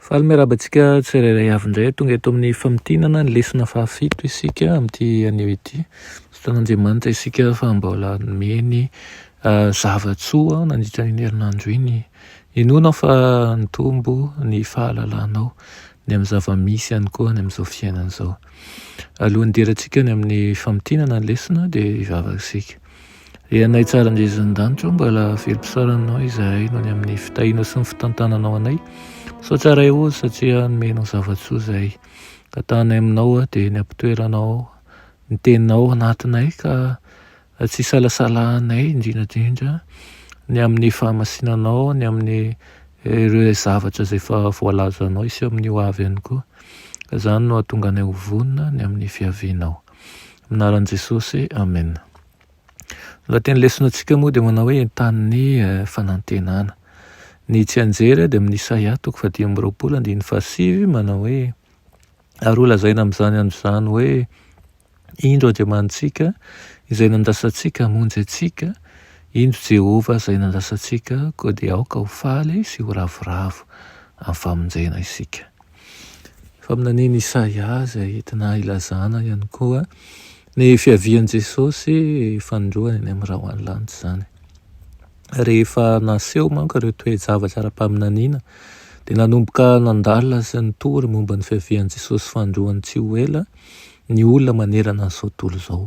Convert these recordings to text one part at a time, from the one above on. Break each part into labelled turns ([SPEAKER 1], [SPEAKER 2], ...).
[SPEAKER 1] Faly miarahaba antsika tsirairay avy indray. Tonga eto amin'ny famintinana ny lesona fahafito isika amin'ity anio ity. Misaotra an'Andriamanitra isika fa mbola nomeny zava-tsoa nandritra an'iny herinandro iny. Inoana aho fa nitombo ny fahalalanao ny amin'ny zava-misy ihany koa any amin'izao fiainana izao. Alohan'ny hidirantsika any amin'ny famintinana ny lesona dia hivavaka isika. Ry Anay tsara indrindra eny an-danitra ô, mbola velom-pisaorana Anao izahay noho ny amin'ny fitahianao sy ny fitantananao anay. Misaotra Ray ô satria nomenao zava-tsoa izay tantanay aminao aho dia ny am-pitoeranao ny Teninao ao anatinay ka tsy isalasalanay indrindra indrindra ny amin'ny fahamasinanao, ny amin'ny ireo zavatra izay efa voalazanao hiseo amin'ny ho avy ihany koa. Ka izany no hahatonga anay ho vonona ny amin'ny fiavianao. Minaran'i Jesosy, Amen. Ny lahaten'ny lesonantsika moa dia manao hoe entanin'ny eh, fanantenana. Ny tsianjery dia amin'ny Isaia toko fahadimy amby roapolo andininy fahasivy manao hoe ary ho lazaina amin'izany andro izany hoe indro Andriamanitsika izay nandrasantsika hamonjy antsika, indro Jehovah izay nandrasantsika, koa dia aoka ho faly sy ho ravoravo amin'ny famonjena isika. Faminanian'i Isaia izay entina ilazana ihany koa ny fiavian'i Jesosy fanindroany any amin'ny rahoany-lanitra izany. Rehefa naseho manko ireo toe-javatra ara-paminaniana dia nanomboka nandalina sy nitory momba ny fiavian'i Jesosy fanindroany tsy ho ela ny olona manerana an'izao tontolo izao.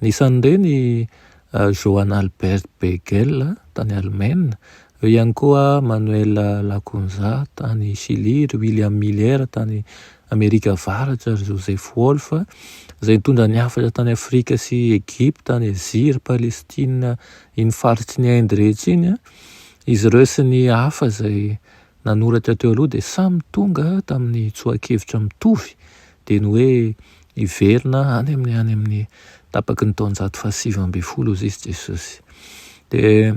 [SPEAKER 1] Anisan'ireny Johann Albert Beigel tany Alemaina, eo ihany koa Manuel Lacunza tany Shily, ry William Miller tany Amerika Avaratra, ry Joseph Wolff izay nitondra ny hafatra tany Afrika sy Egypta, any Azia, ry Palestina, iny faritry ny Inde rehetra iny. Izy ireo sy ny hafa izay nanoratra teo aloha dia samy tonga tamin'ny tsoa-kevitra mitovy dia ny hoe hiverina any amin'ny any amin'ny tapaky ny taonjato fahasivy ambin'ny folo hozy izy Jesosy. Dia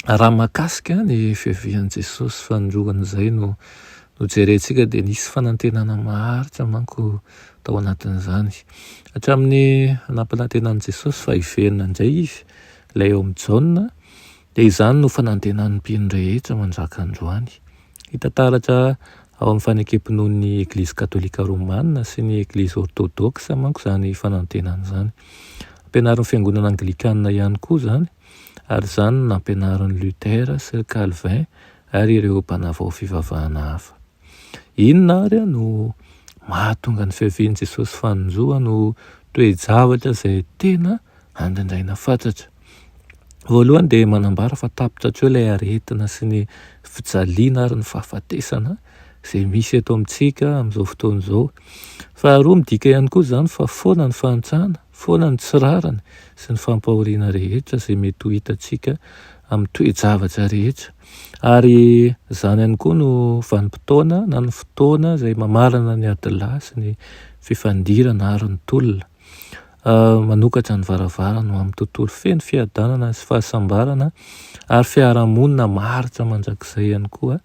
[SPEAKER 1] raha makasika ny fiavian'i Jesosy fanoloan'izay no no jerentsika dia nisy fanantenana maharitra manko tao anatin'izany. Hatramin'ny nampanantenan'i Jesosy fa hiverina indray izy, ilay eo amin'ny Jaona, Dia izany no fanantenan'ny mpino rehetra manjaka androany. Hita taratra ao amin'ny fanekem-pinoan'ny Eglizy Katolika Romana sy ny Eglizy Ortodoksa manko izany fanantenana izany. Ampianarin'ny Fiangonana Anglikana ihany koa izany, ary izany no nampianarin'i Luther sy ry Calvin ary ireo mpanavao fivavahana hafa. Inona ary no mahatonga ny fiavian'i Jesosy fanonjoany ho toe-javatra izay tena andrandraina fatratra? Voalohany dia manambara fa tapitra hatreo ilay aretina sy ny fijaliana ary ny fahafatesana izay misy eto amintsika amin'izao fotoana izao. Faharoa midika ihany koa izany fa foana ny fahantrana foana ny tsy rariny sy ny fampahoriana rehetra izay mety ho hitantsika amin'ny toe-javatra rehetra, ary izany ihany koa no vanim-potoana na ny fotoana izay mamarana ny adilahy sy ny fifandirana ary ny tolona. Manokatra ny varavarany ho amin'ny tontolo feno fiadanana sy fahasambarana ary fiarahamonina maharitra mandrakizay ihany koa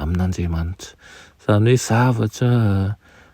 [SPEAKER 1] amin'Andriamanitra. Izany hoe zavatra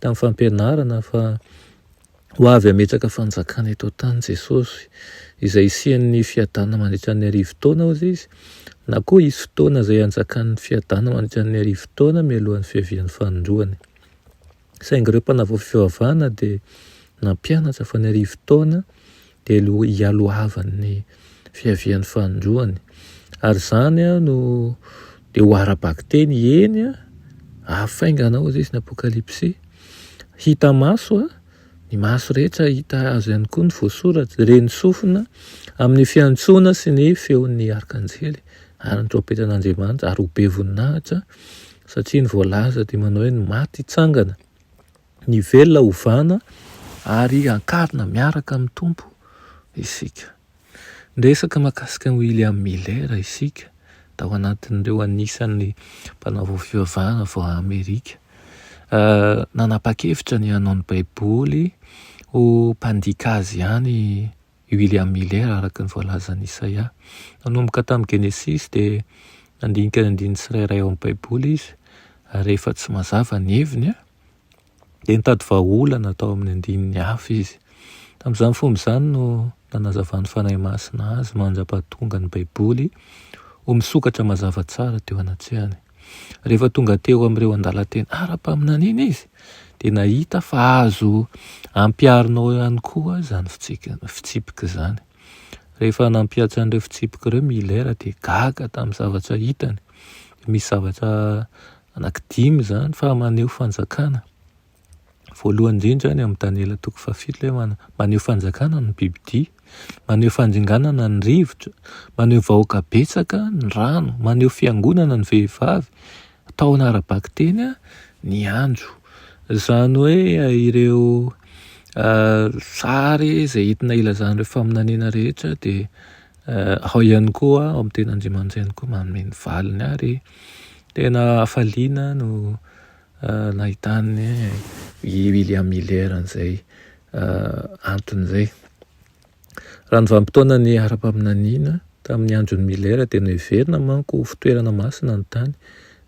[SPEAKER 1] tamin'ny fampianarana fa ho avy hametraka fanjakana eto an-tany Jesosy, izay hisian'ny fiadanana mandritra ny arivo taona, hoy izy, na koa hisy fotoana izay hanjakan'ny fiadanana mandritra ny arivo taona mialohan'ny fiavian'ny fanindroany. Saingy ireo mpanavao fivavahana dia nampianatra fa ny arivo taona dia lo hialohavan' ny fiavian' ny fanindroany, ary izany no dia ho ara-bakiteny, eny, afaingana ao izay izy ny Apokalypsy, hita maso, ny maso rehetra hahita azy ihany koa ny voasoratra, dia reny sofina amin' ny fiantsoana sy ny feon' ny arkanjely ary ny trompetan' Andriamanitra, ary ho be voninahitra, satria ny voalaza dia manao hoe ny maty hitsangana, Ny velona hovana ary hankarina miaraka amin'ny Tompo isika. Niresaka mahakasika an'i William Miller isika, tao anatin'ireo anisan'ny mpanao fivavahana vao Amerika. Nanapa-kevitra ny hanao ny Baiboly ho mpandika azy ihany i William Miller, araka ny voalazan'i Isaia. Nanomboka tamin'ny Genesisy dia nandinika ny andininy tsirairay ao amin'ny Baiboly izy, ary rehefa tsy mazava ny heviny, dia nitady vahaolana tao amin'ny andininy hafa izy. Tamin'izany fomba izany no nanazavan'ny Fanahy Masina azy mandra-pahatonga ny Baiboly ho misokatra mazava tsara teo anatrehany. Rehefa tonga teo amin'ireo andalan-teny ara-paminaniana izy dia nahita fa azo ampiharinao ihany koa izany fitsipika izany. Rehefa nampihatra an'ireo fitsipika ireo Miller dia gaga tamin'ny zavatra hitany. Misy zavatra Anaky dimy izany fa maneho fanjakana. Voalohany indrindra any amin'ny Daniela toko fahafito ilay man- maneho fanjakana ny bibidia, maneho fandringanana ny rivotra, maneho vahoaka betsaka ny rano, maneho fiangonana ny vehivavy, tahona ara-bakiteny an, ny andro. Izany hoe ireo sary izay entina ilazana ireo faminaniana rehetra dia Ao ihany koa ao amin'ny teny Andriamanitra ihany koa manome ny valiny ary tena hafaliana aho no nahitàn'i William Miller an'izay antony izay. Raha ny vanim-potoana niharam-paminaniana tamin'ny andron'i Miller dia noheverina manko ho fitoerana masina ny tany,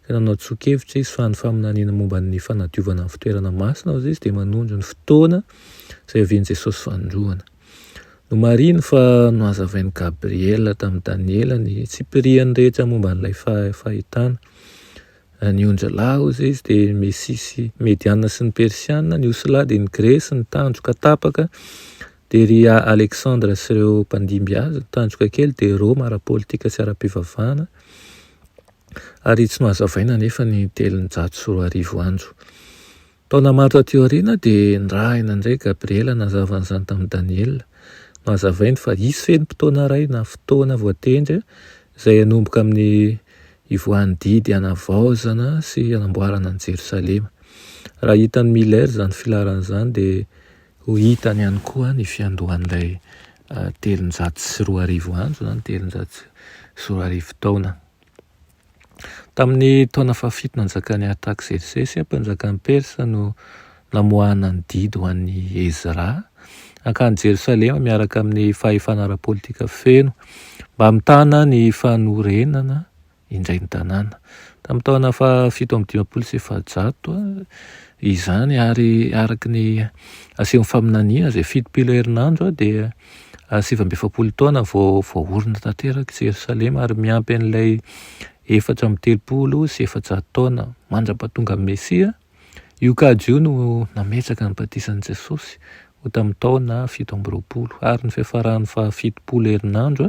[SPEAKER 1] dia nanao tsoa-kevitra izy fa ny faminaniana momba ny fanadiovana ny fitoerana masina hoy izy dia manondro ny fotoana izay ovian'i Jesosy Fanindroany. Nomarihiny fa nohazavain'i Gabriela tamin'i Daniela ny tsipiriany rehetra momba an'ilay fahitana. Ny onjilahy, hoy izay izy, dia ny Mesia sy Mediana sy ny Persiana, ny osilahy dia ny Gresy, ny tandroka tapaka dia ry Aleksandra sy ireo mpandimby azy, ny tandroka kely dia Roma ara-politika sy ara-pivavahana, ary tsy nohazavaina anefa ny telonjato sy roa arivo andro. Taona maro taty aoriana dia nirahina indray Gabriela nanazavany izany tamin'i Daniela. Nohazavainy fa hisy fenim-potoana iray na fotoana voatendry izay hanomboka amin'ny hivoahan'ny didy hanavaozana sy hanamboarana an'i Jerosalema. Raha hitan'i Miller izany filaharana izany dia ho hitany ihany koa ny fiandohan'ilay telonjato sy roa arivo andro na ny telonjato sy roa arivo taona. Tamin'ny taona fahafito nanjakan'i Artaksersesy, mpanjakan'i Persa, no namoahana ny didy ho an'i Ezra hankany Jerosalema miaraka amin'ny fahefana ara-politika feno mba hamitana ny fanorenana indray ny tanàna. Tamin'ny taona fahafito amby dimampolo sy efajato izany ary araka ny asehon'ny faminaniana izay fitopilo herinandro dia sivy amby efapolo taona vao voaorina tanteraka i Jerosalema ary miampy an'ilay efatra amby telopolo sy efajato taona mandra-pahatongan'ny Mesia. Io kajy io no nametraka ny batisan'i Jesosy ho tamin'ny taona fito amby roapolo ary ny fiafaran'ny fahafitom-polo herinandro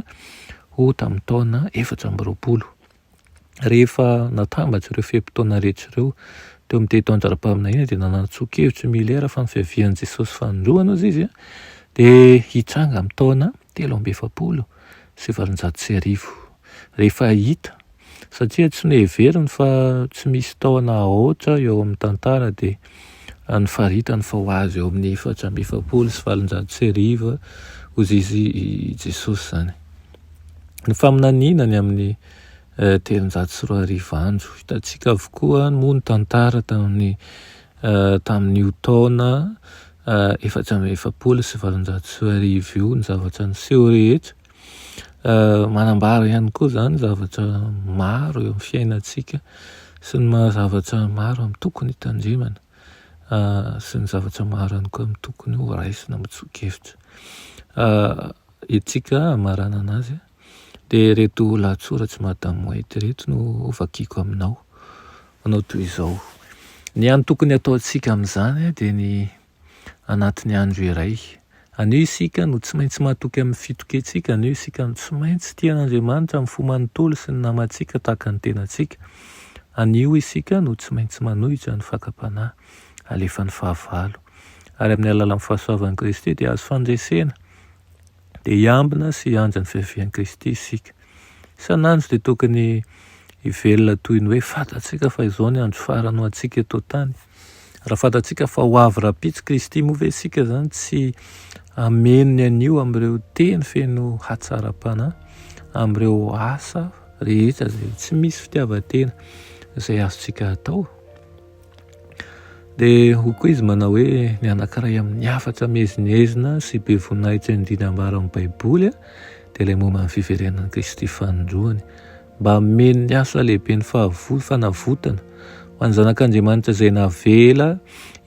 [SPEAKER 1] ho tamin'ny taona efatra amby roapolo. Rehefa natambatra ireo fe-potoana rehetra ireo teo amin'ny teny taon-jara-paminaniana dia nanatsoa-kevitra i Miller fa ny fiavian'i Jesosy fanindroany hozy izy dia hitranga amin'ny taona telo amby efapolo sy valonjato sy arivo. Rehefa hita, satria tsy noheveriny fa tsy misy taona aotra eo amin'ny tantara dia nofaritany fa ho azy eo amin'ny efatra amby efapolo sy valonjato sy arivo hozy izy i Jesosy izany. Ny faminaniana ny amin'ny eh, telonjato sy roa arivo andro. Hitantsika avokoa moa ny tantara tamin'ny eh, tamin'io taona eh, efatra amby efapolo sy valonjato sy roa arivo io ny zavatra niseho rehetra. Eh, manambara ihany koa izany zavatra maro eo amin'ny fiainantsika sy ny maha zavatra maro amin'ny tokony hitandremana eh, sy ny zavatra maro ihany koa amin'ny tokony ho raisina mitsoa-kevitra. Eh, Hetsika hamaranana azy dia ireto lahatsoratr'i Madame White ireto no hovakiko aminao. Manao toy izao, Ny hany tokony hataontsika amin'izany dia ny anatin'ny andro iray. Anio isika no tsy maintsy matoky amin'ny fitokiantsika, anio isika no tsy maintsy tia an'Andriamanitra amin'ny fo manontolo sy ny namantsika tahaka ny tenantsika, anio isika no tsy maintsy manohitra ny fakam-panahy alefan'ny fahavalo. Ary amin'ny alalan'ny fahasoavan'i Kristy dia azo fandresena. dia hiambina sy hiandry ny fiavian'i Kristy isika. Isan'andro dia tokony hivelona toy ny hoe fantatsika fa izao ny andro farany ho antsika eto an-tany. Raha fantatsika fa ho avy rahampitso Kristy moa ve isika izany tsy hameno ny anio amin'ireo teny feno hatsaram-panahy, amin'ireo asa rehetra izay tsy misy fitiavan-tena izay azontsika atao? Dia hoy koa izy manao hoe ny anankiray amin'ny hafatra miezinezina sy be voninahitra indrindra ambara amin'ny Baiboly dia ilay momba ny fiverenan'i Kristy fanindroany mba hameno ny asa lehiben'ny fahavolo fanavotana ho an'ny zanak'Andriamanitra izay navela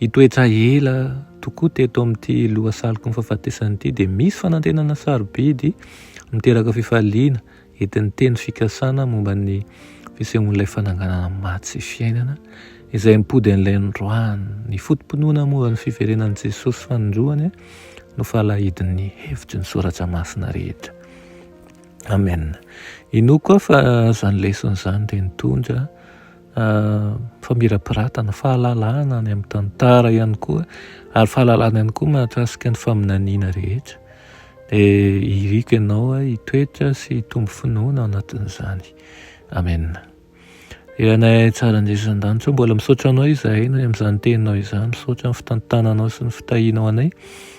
[SPEAKER 1] hitoetra ela tokoa teto amin'ity lohasaloko ny fahafatesana ity dia misy fanantenana sarobidy miteraka fifaliana Entin'ny teny fikasana momba ny fisehoan'ilay fananganana maty sy fiainana izay mipody an'ilay androany. Ny foto-pinoana momba ny fiverenan'i Jesosy fanindroany no falahidin'ny hevitry ny Soratra Masina rehetra. Amen. Inoako aho fa izany lesona izany dia nitondra famirapiratana, fahalalana any amin'ny tantara ihany koa ary fahalalana ihany koa mahakasika ny faminaniana rehetra. Dia iriko ianao hitoetra sy hitombo finoana ao anatin'izany. Amen. Ianay tsara Jesoa an-danitra, mbola misaotra anao izahay noho amin'izany teninao izany, misaotra amin'ny fitantananao sy ny fitahianao anay,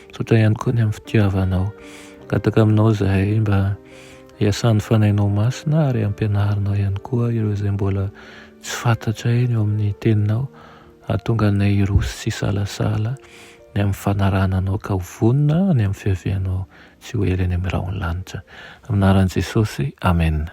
[SPEAKER 1] misaotra ihany koa ny amin'ny fitiavanao. Gataka aminao izahay mba Iasan'ny Fanahinao Masina ary ampianarinao ihany koa ireo izay mbola tsy fantatray ny eo amin'ny Teninao hahatonga anay hiroso tsy hisalasala ny amin'ny fanarahana Anao ka ho vonona ny amin'ny fiavianao sy ho ela eny amin'ny rahon'ny lanitra. Amin'ny anaran'i Jesosy, amena.